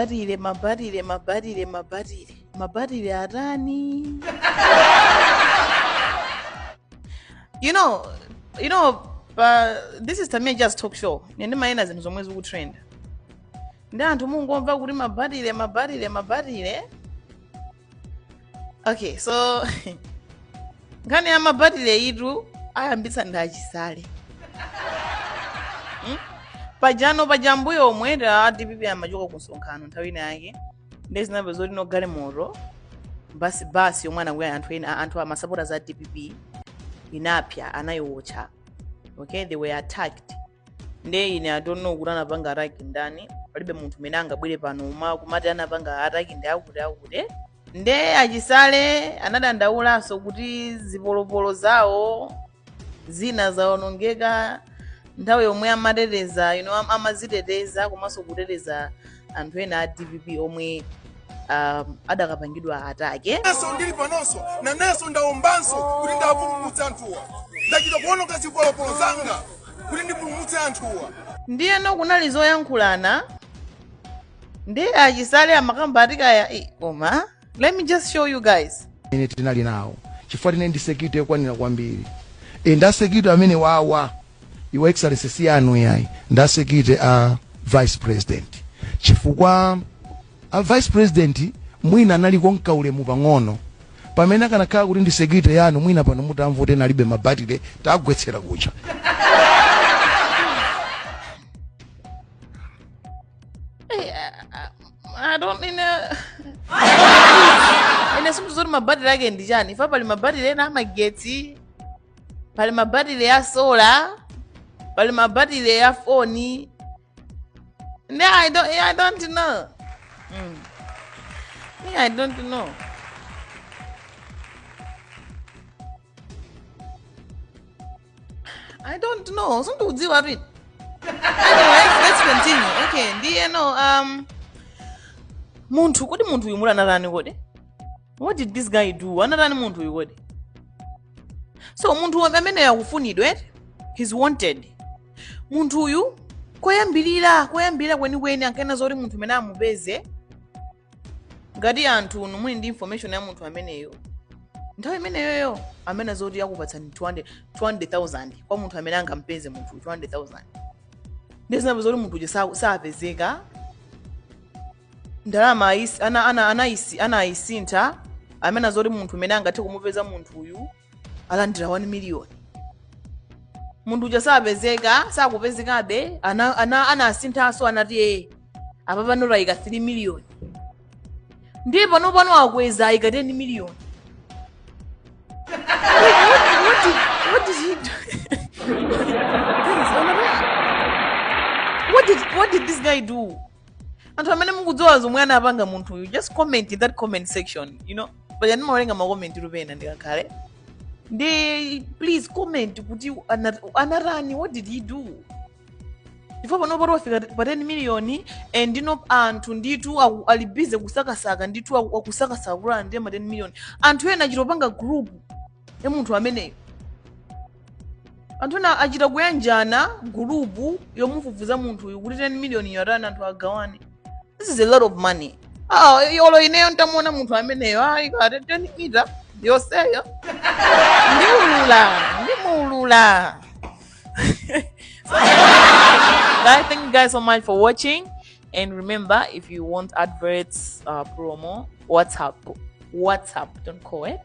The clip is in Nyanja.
batile mabatile mabatile mabatile mabatile atani you know you know pa this is tamia just talk show ine ndimayenda ndi zinthu zomwe zikutrenda ndi anthu mungomva kuti mabatile mabatile mabatile okay so nkhani ya mabatile yitu ayambitsa ndi achisale Hmm? pajano pambuyo pomwe a dpp amachoka ku msonkhano nthawi ina yake nde zinamveka zoti no galimoto basi basi yomwe anakwera anthu ena anthu amasapotazi a dpp inapsya anayiwotcha okay they were attacked nde ine i don't know kuti anapanga ataki ndani palibe munthu amene angabwere pano uma kumati anapanga ataki ndi akutiakuti nde achisale anadandaulanso kuti zipolopolo zawo zina zawonongeka nthawi yomwe amateteza you know am- amaziteteza komanso kuteteza anthu ena a dpp omwe um, adakapangidwa ataki nawonso ndili panonso nanenso ndaombanso kuti ndipulumutse anthuwa ndachita kuononga zipolopolo zanga kuti ndipulumutse anthuwa ndiyeno kunali zoyankhulana ndi achisale amakamba ati kaya "Eh, koma Let me just show you guys. Ine tinali nayo chifukwa tili ndi security yokwanira kwambiri e nda security amenewawa your excellency si anu ayi nda security a vice president chifukwa a vice president mwina anali ko nkaulemu pang'ono pamene akanakhala kuti ndi security yanu mwina pano mutamva kuti alibe mabatire tagwetsera kucha I don't in a ine simuti zoti mabatiri ake ndi chani ifa pali mabatiri ena amagetsi pali mabatiri ya sola pali mabatiri ya foni ne I don't, I don't know mm. me I don't know I don't know. Some people do worry. Anyway, let's continue. Okay, ndiyeno um munthu kodi munthu uyu muti anatani kodi? What did this guy do? Anatani munthu uyu kodi? So munthu uyu ameneyo akufunidwa eti? He's wanted. Munthu uyu koyambirira koyambirira kwenikweni ankanena zoti munthu amene amupeze ngati anthu inu muli ndi information ya munthu ameneyo nthawi imeneyoyo amanena zoti akupatsani 200 200,000 kwa munthu amene angampeze munthuyu 200,000 nde zinapezeka kuti munthu uja sa- sapezeka ndalama ayis- ana- ana- anayisi- anayisintha amanena zoti munthu amene angathe kumupeza munthuyu alandira 1 miliyoni munthu uja sapezeka sakupezekabe ana- ana- anasinthanso anati ee panopa tayika 3 miliyoni ndiye pano pano akweza ayika 10 miliyoni What did- what did he do? Guys, what did what did this guy do? anthu amene mukudziwa zomwe anapanga munthuyu just comment in that comment section you know paja ndimawerenga makomenti mwina ndikakhala ndi please comment kuti ana- anatani what did he do ndipo pano pati wafika pa 10 miliyoni and anthu nditu aku- ali bize kusakasaka nditu aku- akusakasaka kuti alandire ma 10 miliyoni anthu ena achita kupanga group ya munthu ameneyo anthu ena achita kuyanjana gulupu yofufuza za munthuyu kuti 10 miliyoniyo itani anthu agawane this is a lot of money ah, yolo ineyo nditamuona munthu ameneyo ayi kaya 10 mita yonseyo ndiulula ndimuulula guys thank you guys so much for watching and remember if you want adverts uh, promo whatsapp whatsapp don't call